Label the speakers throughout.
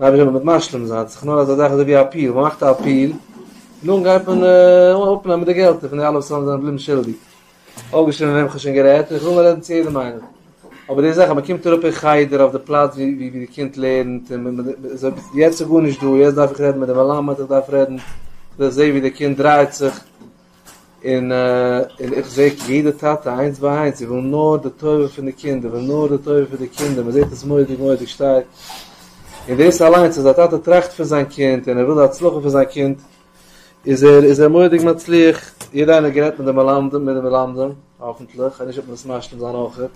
Speaker 1: רבי זאל מיט משלים זיין, ס'איז נאר אזא זאך אזויווי א אפיעל, מ'מאכט א אפיעל, און דאן גייט מען אפנעמען די געלטער פון די אלע וואס זענען געבליבן שולדיג. אויפגעשריבן מיט וועם כ'האב שוין גערעדט, און כ'וועל רעדן צו יעדעם איינעם. אבער די זאך אז מ'קומט אראפ אין חדר אויף די פלאץ ווי די קינד לערנט, יעצט איז גארנישט דא, יעצט דארף איך רעדן מיט די מלמד, איך דארף רעדן, איך זע ווי די קינד דרייט זיך, און איך זעה יעדע טאטע איינס ביי איינס, זיי ווילן נאר די טובה פון די קינדער, ווילן נאר די טובה פון די קינדער, מען זעט עס מורא'דיג מורא'דיג שטארק, און דאס אליינס אז א טאטע טראכט פון זיין קינד און ער וויל די הצלחה פון זיין קינד, איז ער איז ער מורא'דיג מצליח, יעדער איינער גערעדט מיט די מלמדים מיט די מלמדים, האפענטליך, כ'ווייס נישט אויב מען דאס משלים זיין אויכעט,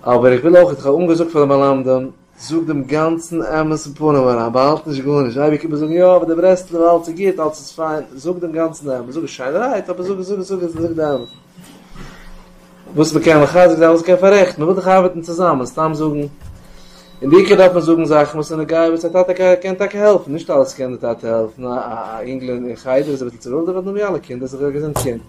Speaker 1: אבער איך וויל אויכעט, איך האב אנגעזאגט פאר די מלמדים. זאג דעם גאנצן אמת אין פנים אריין, באהאלט נישט גארנישט, אייביג קומט מען זאגן יא אבער די ברסלב אלץ איז גוט, אלץ איז פיין, זאג דעם גאנצן אמת, זאג עס שיינערהייט אבער זאג עס, זאג עס, זאג עס, זאג די אמת, וואס מען קען מחזק זיין, וואס מען קען פאררעכטן, מען וויל דאך ארבעטן צוזאמען, סתם זאגן, און בעיקר דארף מען זאגן זאכן וואס זענען געוואר וואס א טאטע קען טאקע העלפן, נישט אלעס קען די טאטע העלפן, א יונגל אין חדר איז אביסל צו ווילד, אבער נאר ווי אלע קינדער, זיך ארגעזען צו.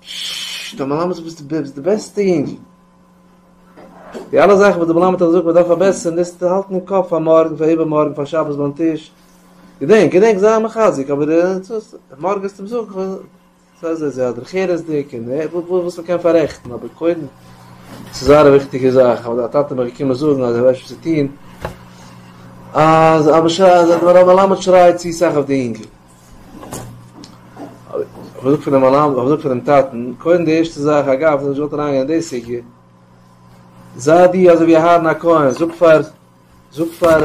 Speaker 1: ש ט די מלמד זאגט ביסט ביסט די בעסטע יונגל. די אלע זאכן וואס די מלמד האט געזאגט מען דארף פארבעסערן דאס האלט אין קאפ פאר מארגן פאר איבערמארגן פאר שבת ביים טיש. געדענק געדענק זיי מחזק אבער מארגן וועסטו אים זאגן זיי זיי זיי דרך ארץ'דיג און וואס מען קען פאררעכטן אבער קודם ס'איז זייער א וויכטיגע זאך אבער דיין טאטע האט מיך געקומען זאגן אז ער ווייסט וואס צו טון אז אז די מלמד שרייט צו סאך אויף די יונגל. האב איך געזאגט פאר די מלמדים, האב איך געזאגט פאר דעם טאטן, קודם די ערשטע זאך, אגב, איך זאל נישט געוואלט אריינגיין אין די סוגיא, זיי דו אזוי ווי אהרן הכהן, זאג פאר, זאג פאר,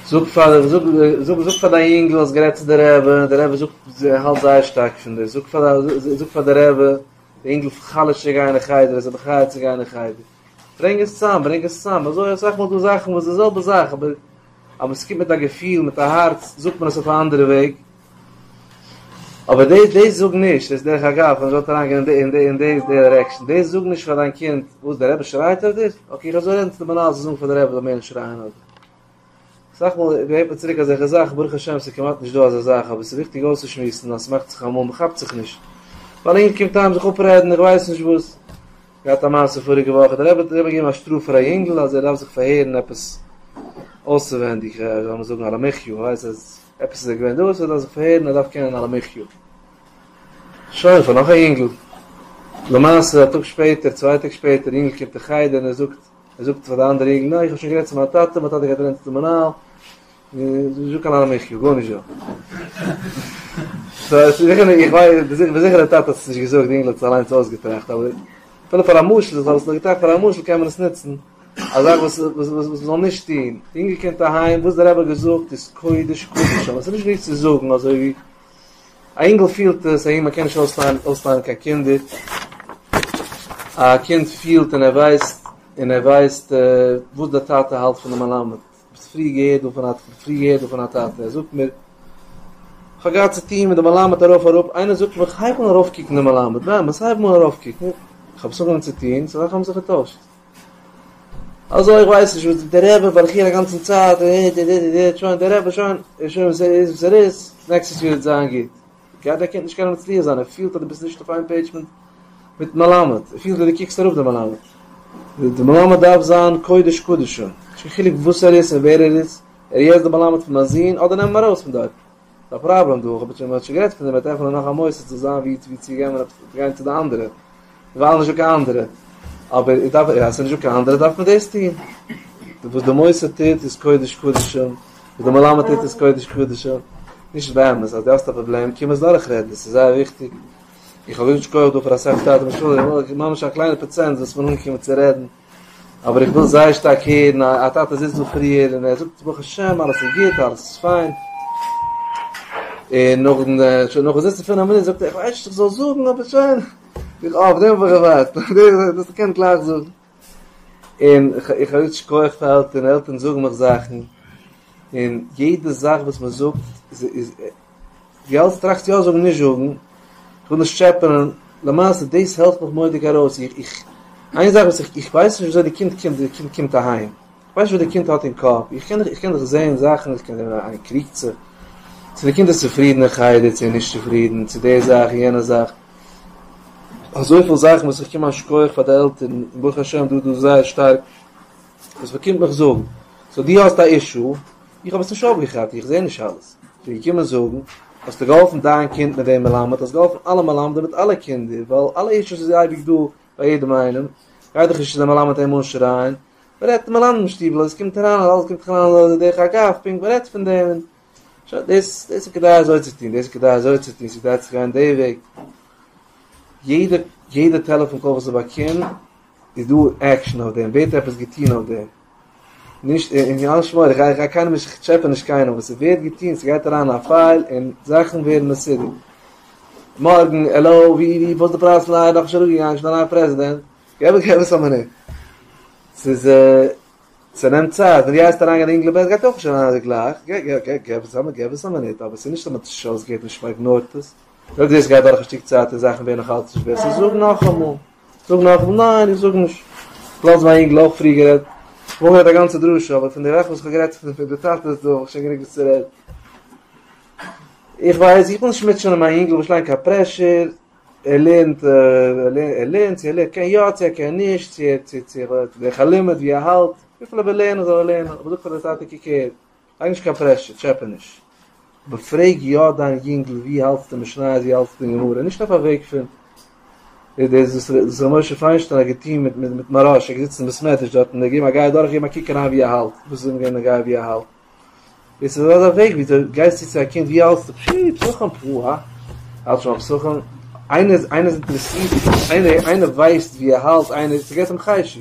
Speaker 1: זאג פאר, זאג, זאג, זאג פאר דיין יונגל, האסט גערעדט צו די רבי, די רבי זאגט, האלט זייער שטארק פון דיר, זאג פאר, זאג פאר די רבי, די יונגל חלש'ט צו גיין אין חדר, ער איז זיך מחי' צו גיין אין חדר. ברענג עס צוזאם, ברענג עס צוזאם, אזוי אסאך מאל דא זאכן וואס די זעלבע זאך אבער אבער עס קומט מיט א געפיל מיט א הארץ זאגט מען עס אויף א אנדערע וועג, אבער דעי דעי זאג נישט איז דרך אגב אז מען זאל אריין גיין אין די אין די דירעקשאן דעי זאג נישט פאר דיין קינד וואס דער רבי שרייט אויף דיר אקעי איך וועל אזוי רעדן צו די מנהל זאל זאגן פאר די רבי זאל מער נישט שרייען אויף דיר. אסאך מאל הערט מען צוריק אזעלכע זאכן, ברוך השם ס'איז כמעט נישט דא אזא זאך, אבער ס'איז וויכטיג אויסצושמועסן אז ס'מאכט זיך אמאל מ'כאפט זיך נישט, ווייל אינגער קומט אהיים זיך אפרעדן איך ווייס נישט וואס, געהאט א מעשה פאריגע וואך האט די רבי געגעבן א שטראף פאר א יונגל אז ער דארף זיך פארהערן עפעס אויסעווענדיג לאמיר זאגן על המחי' ער ווייסט אז עפעס איז ער געווען דארט ער דארף זיך פארהערן ער דארף קענען על המחי' שוין פאר נאך א יונגל למעשה א טאג שפעטער צוויי טעג שפעטער יונגל קומט אין חדר און ער זאגט ער זאגט פאר די אנדערע יונגען ניין איך האב שוין גערעדט צו מיין טאטע, מיין טאטע גייט רעדן צו די מנהל, נישטא קיין אנא מחיה, גארנישט דא. סא עס איז זיכער, איך ווייס, בין זיכער דער טאטע האט עס נישט געזאגט, די יונגל האט עס אליינס אויסגעטראכט, אבער אפילו פאר א משל, איך האב עס נאר געטראכט פאר א משל, קען מען עס נוצן, א זאך וואס וואס מען זאל נישט טון, די יונגל קומט אהיים, וואס דער רבי האט געזאגט איז קודש קדשים, עס איז נישט וואס צו זאגן אזוי ווי א אינגל פילט עס אהן מען קען נישט אויסלייענען אויסלייענען קיין קינדער, א קינד פילט און ער ווייסט און ער ווייסט וואס דער טאטע האלט פון די מלמד, ביסט פריער געהערט דא פון א פריער געהערט דא פון א טאטע, ער זאגט מיר כ'האב געהאט צו טון מיט די מלמד ארויף אראפ, איינער זאגט מיר כ'הייב אן ארויף קוקן די מלמד, באמת הייב אן ארויף קוקן, כ'האב עס אנגעהויבן צו טון, ס'איז אזאלכע האבן זיך געטוישט. אזוי איך ווייס נישט וואס די רעבע וועל איך הערן אגאנצן צייט און איד איד איד איד שוין די רעבע שוין איז שוין וואס ער איז וואס ער איז נעקסטעס יאר וועט זיין גוט גייט דער קינד נישט קענען מצליח זיין ער פילט אז די ביסט נישט אויף איין פעידזש מיט מיטן מלמד ער פילט ווי די קוקסט אראפ די מלמד די מלמד דארף זיין קודש קדשים נישט קיין חילוק וואס ער איז און ווער ער איז ער איז יעצט די מלמד פון מיין זון אדער נעם אים ארויס פון דארט. ס'איז א פראבלעם דא, כ'האב שוין מ'האט שוין גערעדט פון דעם מ'וועט עפענען נאך א מוסד צו זיין ווי צו גיין מען האט צו גיין צו די אנדערע ווייל נישטא קיין אנדערע אבער איז דארף אז ס'נישטא קיין אנדערע דארף מען דאס טוהן וואס די מוסד טוט איז קודש קדשים וואס די מלמד טוט איז קודש קדשים נישט באמת אז די האסט א פראבלעם קום עס דורך רעדן עס איז זייער וויכטיג איך האב געזאגט שכוח דא פאר אסאך טאטע משוגעים ממש א קליינע פראצענט וואס מען אנגעקומען צו רעדן אבער איך וויל זייער שטארק הערן א א טאטע זיצט דא פריער און ער זאגט ברוך השם אלעס איז גוט אלעס איז פיין, און נאכן שוין נאכן זיצן פינעף מינוט זאגט ער איך ווייס נישט צו איך זאל זאגן אבער שוין, איך אויף דעם האב איך געווארט, דאס קען איך גלייך זאגן, און איך האב יעצט שכוח פאר עלטערן, עלטערן זאגן מיך זאכן, און יעדע זאך וואס מען זאגט איז די האלסט טראכסט יא זאגן נישט זאגן, כ'וויל נישט טשעפענען, למעשה דאס העלפט מיך מורא'דיג ארויס, איך איך איין זאך וואס איך איך ווייס נישט וויאזוי די קינד קומט די קינד קומט אהיים, איך ווייס נישט וואס די קינד האט אין קאפ, איך קען איך קען דאך זעהן זאכן, עס קען זיין איינער קריגט זיך, צו די קינד איז צופרידן אין חדר, צו ער איז נישט צופרידן, צו די זאך און יענע זאך, אזויפיל זאכן וואס איך קום א שכח פאר די עלטערן, און ברוך השם דו דו זייער שטארק. וואס מען קומט מיך זאגן, סאו דו האסט א אישו, איך האב עס נישט אויפגעכאפט, איך זע נישט אלעס, איך בין געקומען זאגן, האסטו געהאלפן דיין קינד מיט דעם מלמד, האסט געהאלפן אלע מלמדים מיט אלע קינדער, ווייל אלע אישוס איז אייביג דא ביי יעדעם איינעם, גייט דאך נישט צו די מלמד אים אנשרייען, מען רעדט אין מלמדים שטיבל, עס קומט אריין אז אלעס קומט זיך אריין דרך אגב, פונקט, מען רעדט פון דעם, שוין, דאס איז כדאי אזוי צו טון, דאס איז כדאי אזוי צו טון, ס'איז כדאי צו גיין די וועג, יעדע טעלעפאן קאל וואס איך באקום. איז דא עקשן אויף דעם, ווערט עפעס געטון אויף דעם, נישט אין יאנ שמואל, איך גיי גיי קיינעם נישט, כ'טשעפע נישט קיינעם, אבער ס'ווערט געטון, ס'גייט אריין א פייל און זאכן ווערן מסודר. מארגן, העלא, ווי ווי וואס די פרייז פון אייער דאך נישט אראפגעגאנגען, שוין א נייע פרעזידענט, געב געב עס א מינוט, ס'איז ס'נעמט צייט, ווען דו גייסט אריין גיין אינגלען בעט גייט אויך נישט אריין אזוי גלייך, גע גע גע געב עס א געב עס א מינוט, אבער ס'איז נישט אז מ'האט עס נישט אויסגעהערט, נישט מ'איגנארט עס, אויב דאס גייט דורך א שטיק צייט און זאכן ווערן נאכאלץ נישט בעסער, זאג נאכאמאל. זאג נאך, ניין איך זאג נישט, לאז מיין אינגל אויך פרי גערעדט, כ'האב אויך געהערט א גאנצע דרשה, אבער פון די וועלכע וואס כ'האב גערעדט פון די טאטעס דא האב איך שוין גענוג וואס צו רעדן, איך ווייס, איך וויל נישט מוטשענען מיין אינגל וואס ליינט קיין פרעשור, ער לערנט, ער לערנט, צו ער קען יא צו ער קען נישט, צו ער האט די חלומות ווי ער האלט, וויפיל ער וויל לערנען זאל ער לערנען, אבער זאגט פאר די טאטע קוק הער, לייג נישט קיין פרעשור, טשעפע נישט. אבער פרעג יא דיין יונגל ווי האלטסטו משניות ווי האלטסטו אין גמרא, נישט אויף א וועג פון דאס וואס ר' משה פיינשטיין האט געטון מיט מיט מהרא ש, געזיצן אין בית מדרש דארט און געגעבן א גייען דורך געבן א קוק אריין ווי ער האלט, וואס איז אים געווען די גייען ווי ער האלט? דאס איז אזא וועג ווי דו גייסט צו צו א קינד ווי האלטסטו, פשי, פסחים פ א, האלט שוין ביי פסחים, איינער איינער איז אינטערעסירט, איינער איינער ווייסט ווי ער האלט, איינער, ס'געט אים חשק.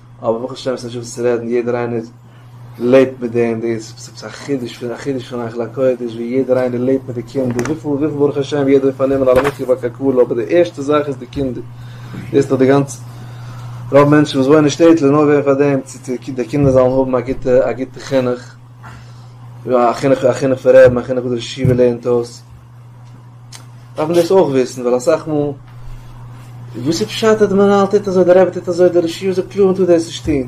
Speaker 1: אבער ברוך השם ס'נישט וואס צו רעדן יעדער איינער לעבט מיט דעם דאס איז עפעס א חידוש פון א חידוש פון היכל הקודש ווי יעדער איינער לעבט מיט די קינדער וויפיל וויפיל ברוך השם יעדער האט פארנומען א למיתקי בר קאקאלע אבער די ערשטע זאך איז די קינדער דאס איז דאך די גאנצע רוב מענטשן וואס וואוינען אין שטעטל נאר ווען פאר דעם צו צו די קינדער זאלן האבן א גוטע א גוטע חינוך א חינוך א חינוך פון רעבן א חינוך וואס די ישיבה לערנט אויס. דארף מען דאס אויך וויסן ווייל אסאך מאל וואס איז פשט אז די מנהל טוט אזוי די רבי טוט אזוי די רשיון זאגט קלאר מ'טאר דאס נישט טון איך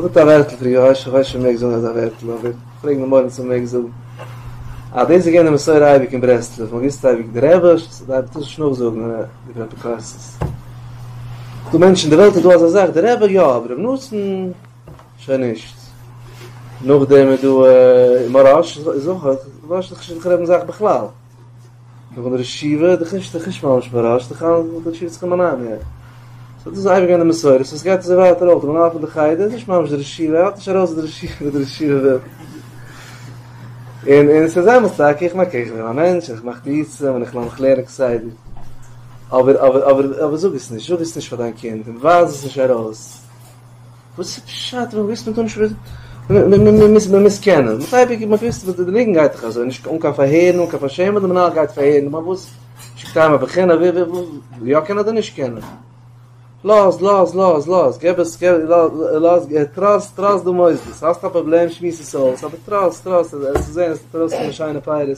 Speaker 1: זאגט א ווערטל פאר יאיר איך ווייס שוין מ'מעג זאגן אזא ווערטל אבער פרעג די מורים צו מ'מעג זאגן אז דאס איז געווען די מסורה אייביג אין ברסלב מ'האט געוואוסט אייביג די רבי דארף מען נישט נאכזאגן איבער אפיקורסות דא מענטשן אין די וועלט איז דא אזא זאך די רבי יא אבער רבי נתן שוין נישט. נאכדעם איז דא מוהראש איז אויך א, מוהראש איז דאך נישט דער זעלבע זאך בכלל. נאכדעם ר' שיבע איז דאך נישט נישט ממש מוהראש, איז דאך אלעס ר' שיבע'ס כמנהגו. סאו דאס איז אייביג געווען די מסורה, סאו עס גייט אזוי ווייטער אויך, די מנהל פון די חדר איז נישט ממש דער ר' שיבע, ער האלט נישט ארויס דער ר' שיבע ווי דער ר' שיבע וויל. און און ס'איז אמת טאקע, איך מיין קעגן איך בין א מענטש און איך מאך טעותים און איך לאז מיך לערנען כסדר. אבער אבער אבער אבער זאג עס נישט, זאג עס נישט פאר דיין קינד און ווייז עס נישט ארויס. וואס איז פשט ווען מ'וויסט מ'טאר נישט וויסן? מ'מוז קענען. מ'האט אייביג געוואוסט וואס די ניגון גייט דאך אזוי, נישט אן קיין פארהערן, אן קיין פארשעמען, די מנהל גייט פארהערן, נאר פארוואס שיקט אהיים א בחינה, ווי ווי ווי, יא קענען אדער נישט קענען? לאז לאז לאז לאז, געב עס געב לאז, טראסט טראסט די מוסדות, האסט א פראבלעם שמועס עס אויס, אבער טראסט טראסט, עס וועט זען עס וועט ארויסקומען שיינע פירות.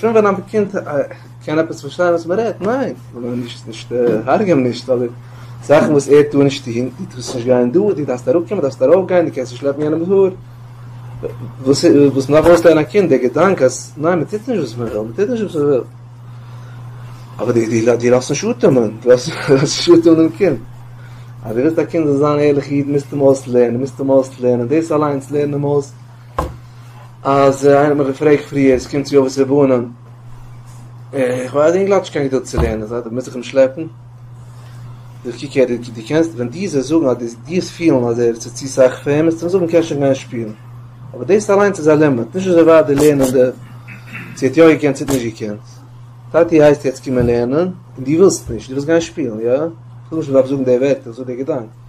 Speaker 1: פון ווען א קינד קען עפעס פארשטיין וואס מען רעדט? ניין! נישט הרג'ען אים נישט, אבער זאכן וואס ער טאר נישט טון, דו טארסט נישט גיין דא, דו דארפסט אראפ קומען, דו דארפסט ארויף גיין, דו קענסט נישט שלעפן יענעמ'ס האר, וואס וואס מען דארף אויסלערנען א קינד די געדאנק אז ניין מען טוט נישט וואס מען וויל, מען טוט נישט וואס מען וויל, אבער דו לאזט נישט אטעמען, דו לאזט נישט אטעמען דעם קינד, אז דו ווילסט א קינד זאל זיין ערליכע איד מוזטו אים אויסלערנען, מוזטו אים אויסלערנען, דאס אליינס לערן אים אויס. אז איינער האט מיך געפרעגט פריער, עס קומט צו אבות ובנים, איך ווייס די אינגל האט נישט קיין געדולד צו לערנען, זיי מוז איך אים שלעפן? איך קוק אהער, דו קענסט, ווען דו זאלסט זאגן אז דו וועסט פילן אז ער איז צו סאך פאר אים, וועסטו אים זאגן קענסט שוין גיין שפילן, אבער דאס אליינס איז א לימיט, נישט אזוי ווייט די לערנענדע, צו ער האט יא געקענט צו ער האט נישט געקענט, טאטי הייסט יעצט קומען לערנען, און דו ווילסט נישט, דו ווילסט גיין שפילן, יא? איך זאג נישט מען דארף זאגן די ווערטער, איך זאג די געדאנק.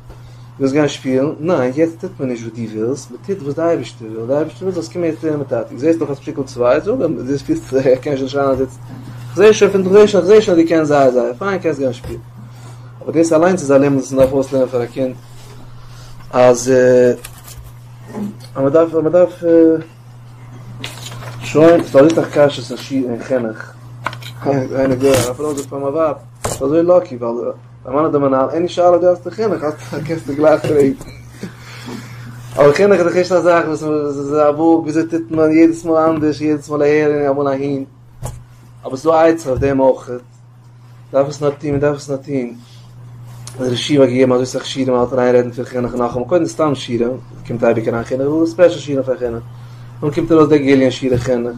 Speaker 1: ווילסט גיין שפילן? ניין, יעצט טוט מען נישט וואס דו ווילסט, מען טוט וואס די אייבערשטער וויל, די אייבערשטער וויל זאלסט קומען יעצט לערנען מיט טאטי, זעסט דאך אז שטיקל צוויי, זאג אים, דו שפילסט, איך קען שוין שרייען אז יעצט, איך זע שוין פון דא, איך זע שוין אז דו קענסט זייער זייער פיין, קענסט גיין שפילן. אבער דאס אליינס איז א לימוד וואס מען דארף אויסלערנען פאר א קינד, אז מען דארף, מען דארף, שוין, ס'איז דאך אויך א קשיא צווישן שו ע און חינוך, איינער געהערט, א פרוי זאגט פאר מיין ווייב, איך בין אזוי לאקי ווייל. דער מאן האט אים אנאל עני שאלה דו האסט די חינוך האסטו קענסטו גלייך פרעגן. אבער חינוך איז דאך נישט א זאך וואס איז א בוק ווי אזוי טוט מען יעדעס מאל אנדערש יעדעס מאל אהער און אמאל אהין. אבער ס'איז דא עצה אויף דעם אויך. מ'דארף עס נאר טון מ'דארף עס נאר טון. דער רשב א האט געגעבן אזוי סאך שיעורים מ'האלט אריין רעדן פון חינוך נאכאמאל קודם סתם שיעורים קומט אייביג אריין חינוך ספעשל שיעורים פון חינוך. דאן קומט ארויס דער גיליון שיעורי חינוך.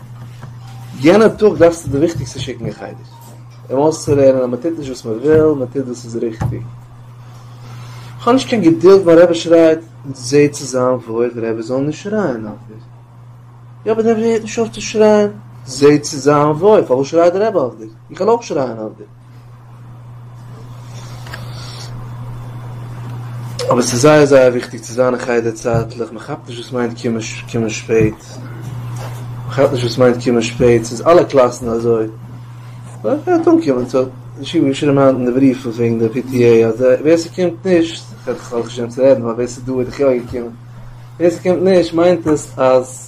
Speaker 1: יענע טאג דארפסטו די וויכטיגסטע שיקן אין חדר אים אויסצולערנען אז מען טוט נישט וואס מען וויל, מען טוט וואס איז ריכטיג. כ'האב נישט קיין געדולד מיין רבי שרייט, זע צו זיין וואויל די רבי זאל נישט שרייען אויף דיר. יא אבער די רבי הערט נישט אויף צו שרייען, זע צו זיין וואויל פארוואס שרייט די רבי אויף דיר, איך וועל אויך שרייען אויף דיר. אבער ס'איז זייער זייער וויכטיג צו זיין אין חדר צייטליך, מען כאפט נישט וואס מיינט קומען קומען שפעט, מען כאפט נישט וואס מיינט קומען שפעט, ס'איז אלע קלאסן אזוי, מען וועט אנקומען, ס'האט ישיבה געשריבן היינט אין די בריוו וועגן די פי טי עי, אז ווער ס'קומט נישט, כ'האב נישט געשריבן צו רעדן ווייל ווער ס'איז דא איז דאך יא געקומען, ווער ס'קומט נישט מיינט עס אז.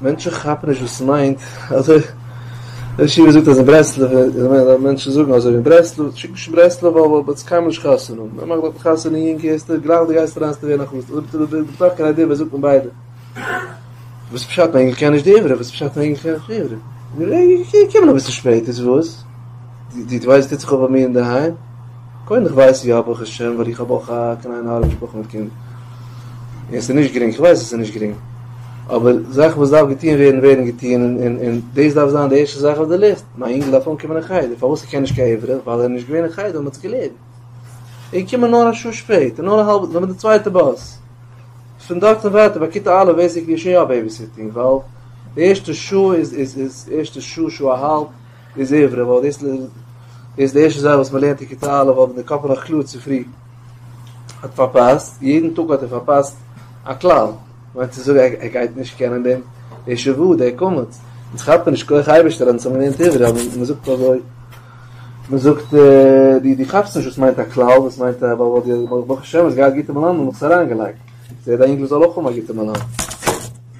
Speaker 1: מענטשן כאפן נישט וואס ס'מיינט אזוי, ר' עקיבא זאגט אז אין ברסלב איז מער אז מענטשן זאגן אזוי ווי אין ברסלב, שיק נישט אין ברסלב ווייל וואלט מען עס קיינמאל נישט חתונה האבן, מען מאכט דארטן חתונה יונג הערסטו גלייך די גייסט אריין ס'ווערט נאך חתונה, אויב האט איינער נאך קיין איידיע וואס זאגט מען ביידע? וואס פשט מען ענגליש קען נישט די עברי? וואס פשט מען ענגליש קען נישט די עברי? מיר קומען אביסל שפעט איז וואס? די ווייסט טוט זיך אויף ביי מיר אינדערהיים? קודם איך ווייס יא ברוך השם ווייל איך האב אויך א קליינע הארעווע משפחה מיט קינד און עס איז נישט גרינג איך ווייס עס איז נישט גרינג אבער זאכן וואס דארף געטוהן ווערן ווערן געטוהן און דאס דארף זיין די ערשטע זאך אויף די ליסט מיין אינגל דארף אנקומען אין חדר פארוואס ער קען נישט קיין עברית ווייל ער איז נישט געווען אין חדר מ'האט זיך געלערנט און קומען נאר א שעה שפעט און נאר א האלבע נאר די צווייטע באס פון דארט און ווייטער ביי כיתה א' ווייס איך געשעהן יא בעיביסיטינג ווייל די ערשטע שעה איז איז איז ערשטע שעה שעה אהאלב איז עברי, ווייל דאס איז די ערשטע זאך וואס מען לערנט אין כיתה א', האט די קאפ נאך קלאר צופרי האט פארפאסט, יעדן טאג האט ער פארפאסט א כלל, מיינט צו זאגן ער גייט נישט קענען דעם די ש ו, די קמץ, אונז כאפט מען נישט כח אייבערשטער אז אונז האבן געלערנט עברי, אבער מען זאגט אזוי, מען זאגט די די כאפסט נישט וואס מיינט א כלל, וואס מיינט א ווייל די ברוך השם האסט געהאט גוטע מלמדים האבן עס אריינגעלייגט, זעה דיין אינגל זאל אויך האבן א גוטע מלמד.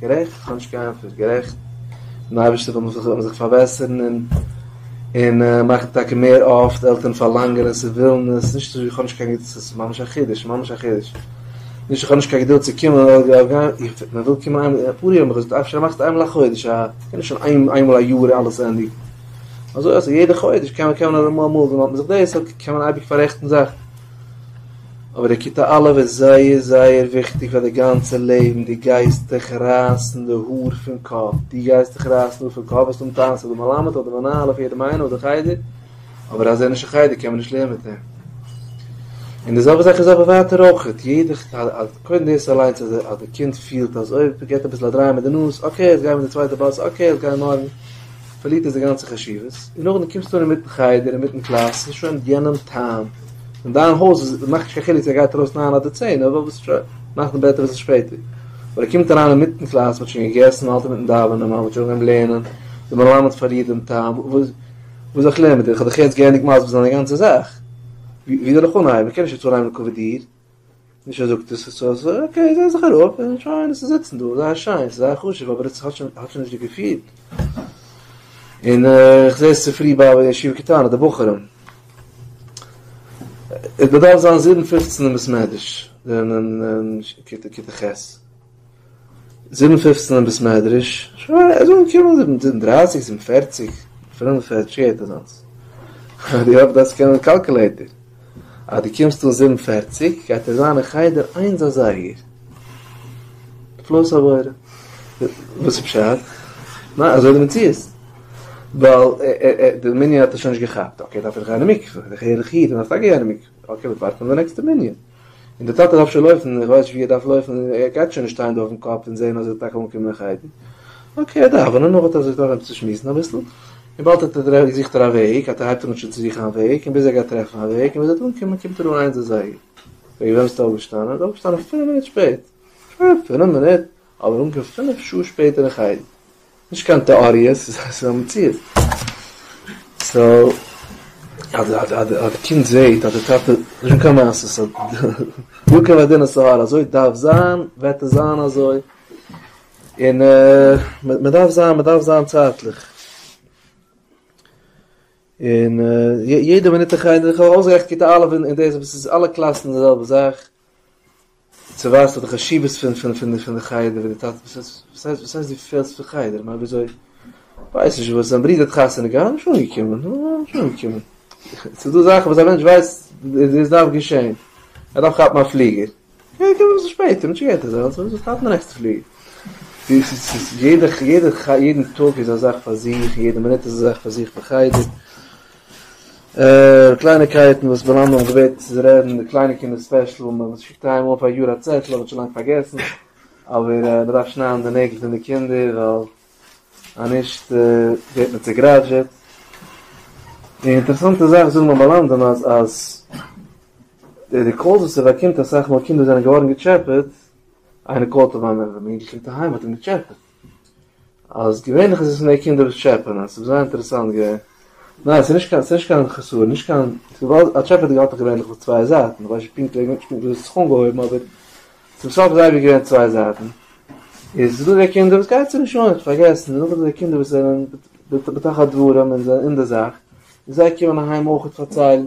Speaker 1: גערעכט, איך האב נישט קיין ענטפער, גערעכט, דעם אייבערשטער וויל מען זיך פארבעסערן און און מאכן טאקע מער אפט, די עלטערן פארלאנגען עס און ווילן עס, נישט אזוי ווי איך האב נישט קיין געדולד, עס איז ממש א חידוש, ממש א חידוש, נישט איך האב נישט קיין געדולד צו קומען, מען וויל קומען איינמאל, אפאר יאר האט מען געזאגט אפשר מאכסט איינמאל א חודש, א קען נישט שוין איינמאל א יאר אלעס ענדיגן, אזוי אז יעדע חודש קען מען קען מען נאר אמאל, אמאל ווען מען האט מען זיך דאס, קען מען אייביג פאררעכטן זאכן. אבער די כיתה א' איז זייער זייער וויכטיג פאר די גאנצע לעבן, דו גייסט דיך רייסן די האר פון קאפ, דו גייסט דיך רייסן די האר פון קאפ, וועסט האבן טענות אויף די מלמד, אויף די מנהל, אויף יעדעם איינעם, אויף די חדר, אבער אז ער איז נישט אין חדר קען מען נישט לערנען מיט אים. און די זעלבע זאך איז אבער ווייטער אויך, יעדע, קודם דאס אליינס אז אז די קינד פילט אז אוי, געט אביסל א דריי מיט די נאז, אקעי, יעצט גיימיר די צווייטע באס, אקעי, יעצט גיימיר מארגן. פארלירט עס די גאנצע חשיבות, און נאכדעם קומסטו אן אינמיטן חדר אינמיטן קלאס ס'איז שוין יענעם טעם, און דיין הויז איז מאכט נישט קיין חילוק צו ער גייט ארויס ניין אדער צען אדער וואס שוין נאכדעם בעט ער אביסל שפעטער, אבער ער קומט אריין אינמיטן קלאס מ'האט שוין געגעסן מ'האלט אינמיטן דאווענען מ'האלט שוין ביים לערנען, די מלמד פארלירט דעם טעם, וואס וואס זאל איך לערנען מיט דיר איך האב דיך יעצט געענדיגט מסביר זיין די גאנצע זאך, ווי זאל איך אנהייבן איך קען נישט יעצט אנהייבן קוועדירט. נישט ער זאגט עס איז אזוי, אקעי זיי זיך אראפ און שוין עס איז זיצן דא, זייער שיין, עס איז זייער חשוב, אבער עס האט שוין האט שוין נישט די געפיל. און איך זע עס צופרי ביי א ישיבה קטנה, די בחורים. עס באדארף זיין זיבן פופצן אין בית מדרש, אין כיתה ח'. זיבן פופצן אין בית מדרש, ער זאל אנקומען זיבן זיבן דרייסיג, זיבן פערציג, פינף פער טשעט אזאנס, אז די האפסט דאס קענען קאלקעלעיטער, אז די קומסט אן זיבן פערציג גייט ער זיין אין חדר איינס אזייגער, נפלאות הבורא, וואס איז פשט? ניין אזוי איז די מציאות, ווייל די מנין האט ער שוין נישט געכאפט, אקעי דארף ער גיין אין מקווה, דער הערליכע איד דארף טאקע גיין אין מקווה, אקעי מיר ווארטן אויף די נעקסטע מנין. און דער טאטע דארף שוין לויפן, ער ווייסט ווי ער דארף לויפן, ער גייט שוין נישט שטיין דא אויפן קאפ און זען אז ער האט טאקע אנגעקומען אין חדר. אקעי, ער דארף, און דערנאך האט ער זיך דורך צו שמועסן אביסל, און באלד האט ער טרעפט זוכט ער א וועג, אט ער הייבט אן שוין צו זוכן א וועג, און ביז ער גייט טרעפן א וועג, און ביז ער וועט אנקומען קומט ער אן איינס אזייגער. וועגן וועם ביסטו אויפגעשטאנען? ער איז אויפגעשטאנען פינף מינוט שפעט. שוין פינף מינוט? אבער אנגעקומען פינף שעה שפעטער אין חדר. נישט קיין טעאריע, ס'איז א מציאות. סאו, אז די קינד זעהט אז די טאטע, נישטא קיין מעשה, סאו נישטא קיין מדינת סאהארא, אזוי דארף זיין, וועט עס זיין אזוי, און מען דארף זיין, מען דארף זיין צייטליך. און יעדע מינוט אין חדר, איך האב אויסגערעכנט כיתה א' און דאס, עס איז אלע קלאסן די זעלבע זאך. צו ווייזט די חשיבות פון פון פון פון די חדר ווי די טאטע וואס הייסט וואס הייסט וואס הייסט דו פעלסט פון חדר מה וויאזוי ווייס נישט וואס זיין ברודער האט חתונה געהאט נישט אנגעקומען נישט אנגעקומען ס'איז דא זאכן וואס א מענטש ווייסט דאס דארף געשען ער דארף כאפן א פליגער קען קומען אביסל שפעטער נישט געהעריג אזוי אלס אביסל כאפן די נעקסטע פליגער יעדע יעדע יעדן טאג איז א זאך פאר זיך יעדע מינוט איז א זאך פאר זיך בחדר. אה, קלייניקייטן וואס מיין מאמע האט געבעטן צו רעדן, די קליינע קינדער ספעשל, וואס מען שיקט איין מאל פער יאר א צעטל, האב איך שוין לאנג פארגעסן, אבער אה, מען דארף שניידן די נעגל פון די קינדער, ווייל אז נישט אה, ווערט מען צעגראדזשעט. די אינטערעסאנטע זאך זאגן מיין מלמדים אז אז די די קאלס וואס ער באקומט אסאך מאל קינדער זענען געווארן געטשעפעט, איינער קאלט אים אז מיין אינגל קומט אהיים מ'האט אים געטשעפעט. אז געווענליך איז עס מער קינדער וואס טשעפען עס, ס'איז זייער אינטערעסאנט געווען. ניין ס'איז נישט קיין, ס'איז נישט קיין חסרון, נישט קיין, וויבאלד א טשעפעטער האט דאך געווענליך אויף צוויי זייטן, איך ווייס נישט פונקט וועגן וואס דו האסט זיך אנגעהויבן אבער צום סוף איז אייביג געווען צוויי זייטן. איז ס'איז דא די קינדער וואס גייט זיי נישט אן, האט פארגעסן, און נאכדעם די קינדער וואס זענען בתוך הדברים און זענען אין די זאך, און זיי קומען אהיים אויך פארציילן.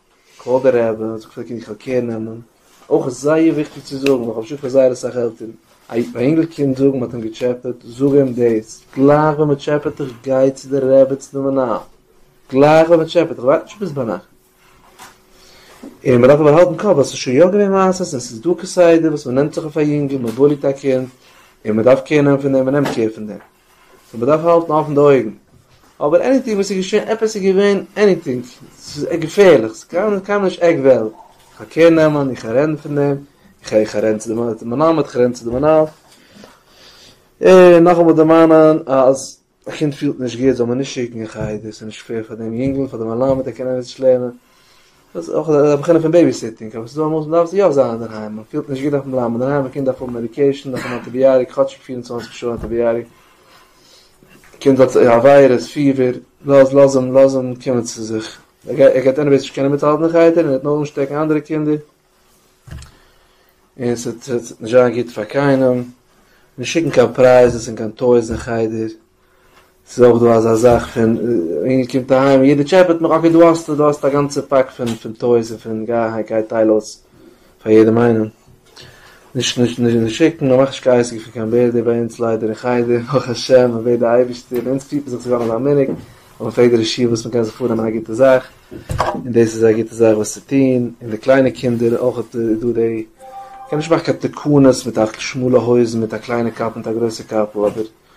Speaker 1: כבוד הרב, איך האב געפרעגט קען איך א קער נעמען, אויך איז זייער וויכטיג צו זאגן, איך האב געשיקט פאר זייער אסאך עלטערן, א אינגל קינד זאגן מען האט אים געטשעפעט, זאג אים דאס, גלייך ווען מען טשעפעט דיך גיי צו די רעבעצן און מנהל, גלייך ווען מען טשעפעט דיך, ווארט נישט ביז ביינאכט. און מען דארף אבער האלטן קאפ ווייל ס'איז שוין יא געווען מעשות און ס'איז דא כסדר וואס מען נעמט זיך אויף א יונגל, מען בוליט א קינד, און מען דארף קער נעמען פון דעם, מען נעמט קער פון דעם. סאו מען דארף האלטן אפן די אויגן. אבער עניטינג וואס איז געשען, עפעס איז געווען, עניטינג, ס'איז געפערליך, ס'איז קיינמאל נישט עק וועלט, איך גיי קער נעמען, איך גיי רעדן פון דעם, איך גיי, איך גיי רעדן צו די מלמד, איך גיי רעדן צו די מנהל, און נאכאמאל דערמאנען אז א קינד פילט נישט גוט זאל מען נישט שיקן אין חדר, ס'איז נישט פעיר פאר דעם יונגל, פאר די מלמד, ער קען עפעס נישט לערנען. דאס איז אויך א בחינה פון בעיבי סיטינג, אבער ס'איז דא אמאל וואס מ'דארף יא זיין אינדערהיים, מען פילט נישט גוט דארף מען בלייבן אינדערהיים, א קינד דארף האבן מעדיקעישן, דארף האבן אנטיביאטיק, כאטשיג פֿיר און צוואַנציק שעה אנטיביאטיק, קינד האט א וויירוס, פיבער, לאז לאז אים לאז אים קומען צו זיך, ער גייט ער גייט עניוועיס נישט קענען מיטהאלטן די חדר און ער וועט נאר אנשטעקן אנדערע קינדער, און ס'וועט נישט זיין גוט פאר קיינעם, נישט שיקן קיין פרייזעס און קיין טויס אין חדר, ס'איז אויך דא אזא זאך פון אינגל קומט אהיים און יעדער טשעפעט מיך אקעי דא האסטו דא האסטו א גאנצע פאק פון פון טויס און פון גיי אהיים גיי טייל אויס פאר יעדעם איינעם נישט נישט נישט שיקן מ'מאכט נישט קיין עסק פון קיין בערדע ביי אונז ליידער אין חדר ברוך השם מ'בעט די אייבערשטער ביי אונז פירט מען זיך צו זיין אזא מנהג אז מ'פרעגט די רשיון וואס מ'קען זיך פארנעמען א גוטע זאך און דאס איז א גוטע זאך וואס צו טון און די קליינע קינדער אויך איז דא די מ'קען נישט מאכן קיין תקנות מיט א שמאלע הויזן מיט א קליינע קאפ מיט א גרויסע קאפל אבער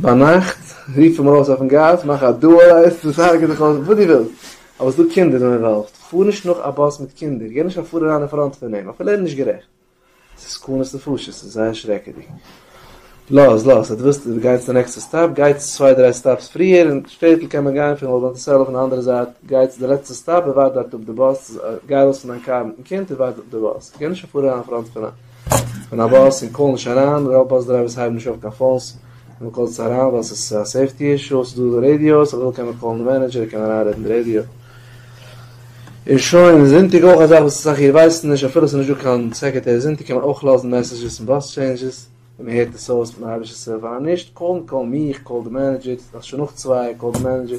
Speaker 1: ביינאכט רוף אים ארויס אויפן גאס, מאך א דועל עסן, סארג זיך אויס, וואס דו ווילסט, אבער ס'דא קינדער אינוואלווד, פאר נישט נאך א באס מיט קינדער, גיי נישט קיין פאר אריין אין פראנט פון אים, אפילו ער איז נישט גערעכט, ס'איז סכנת נפשות, ס'איז זייער שרעקעדיג, לאז לאז, אז דו ווילסט דו גייסט די נעקסטע סטאפ, גייטס צוויי דריי סטאפס פריער, אין שטעטל קען מען גיין פון וואלד מאנטיסעלא אויפן אנדערע זייט, גייטס די לעצטע סטאפ און ווארט דארט אפ די באס, גיי ארויס פון דיין קאר מיטן קינד און ווארט אפ די באס, גיי נישט קיין פאר אריין אין פראנט פון א. פון א באס און קאל נישט אריין, רוב באס דרייווערס הייבן נישט אויף קיין פאונס ווען מען קאלט זיי אריין ווייל עס איז א סעיפטי אישו, עס איז דא רעדיאוס, אויב מען וויל קען מען קאלן די מענעדזשער ער קען אריינרעדן די רעדיאו און שוין, זונטאג אויך א זאך וואס אסאך איר ווייסן נישט, אפילו עס איז נישט דא קיין סעקערטערי זונטאג קען מען אויך לאזן מעסעדזשעס אין באס טשעינדזשעס, ווי מען הערט עס אויס מיט א היימישע סעל פאן, נישט קאלן קאל מיך, קאל די מענעדזשער, ס'איז דאך שוין נאך צוויי, קאל די מענעדזשער.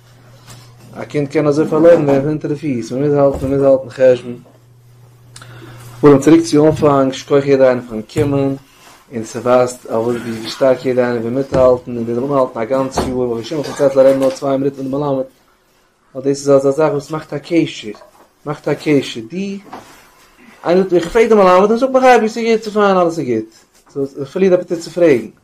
Speaker 1: א קינד קען אזוי פארלוירן ווערן פון אונטער די פיס, מ'מוז האלטן, מ'מוז האלטן חשבון. פארן צוריק צו אנפאנג, שכח יעדער איינער פארן קומען, און ס'ווייזט אויף ווי שטארק יעדער איינער וויל מיטהאלטן, און וויל אנהאלטן א גאנץ יאר, און ווי שמו פארציילט ליידער נאר צוויי מינוט מיטן מלמד, ווייל דאס איז אזא זאך וואס מאכט א קשר, מאכט א קשר, די, איינער זאגט מיר איך פרעג דעם מלמד, ער זאגט מיך אייביג ס'איז גוט, ס'איז פיין, אלעס איז גוט, איך פארליר אפעטיט צו פרעגן.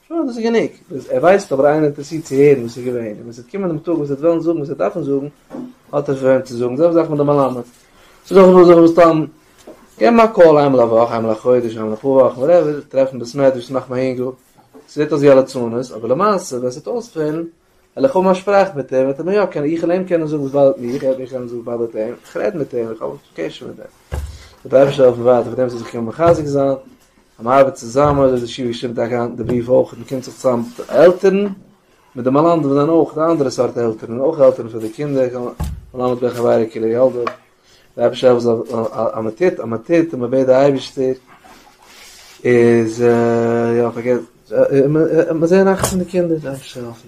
Speaker 1: שוין דאס איז גענוג, ביז ער ווייסט אבער איינער אינטערעסירט צו הערן וואס איז געווען, און ווען ס'וועט קומען דעם טאג וואס ער וועט וועלן זאגן וואס ער דארפן זאגן, האט ער פון וועם צו זאגן, זעלבע זאך מיט די מלמד, ס'איז דאך נאר זיך מסתם געבן א קאל איינמאל א וואך, איינמאל א חודש, איינמאל אפאר וואכן, וואטעווער, טרעפן בית מדרש, מאכן א אינגל, ס'ווערט אויס ווי א לצנות, אבער למעשה ווען ס'וועט אויספעלן, וועל איך האבן א שפראך מיט אים, וועט ער מיר יא קענען, איך וועל אים קענען זאגן וואס באדערט מיך, ער וועט מיר קענען זאגן וואס באדערט אים, איך רעד מיט אים, איך האב א קשר מיט אים. זאל דער אייבערשטער העלפן ווייטער פאר דעם זאל זיך קענען מחזק זיין, אז מען ארבעט צוזאמען, אזוי האט ישיבה געשריבן טאקע היינט אין די בריוו אויך, מען קומט זיך צוזאם מיט די עלטערן, מיט די מלמדים וואס זענען אויך די אנדערע סארט עלטערן, אויך עלטערן פאר די קינדער, מלמד בן חברו כלב ילדו. רבי שרייבט אז אז מען טוט אז מען טוט און מען בעט די אייבערשטער איז יא פארגעס מען זעהן נאכט פון די קינדער דארף איך העלפן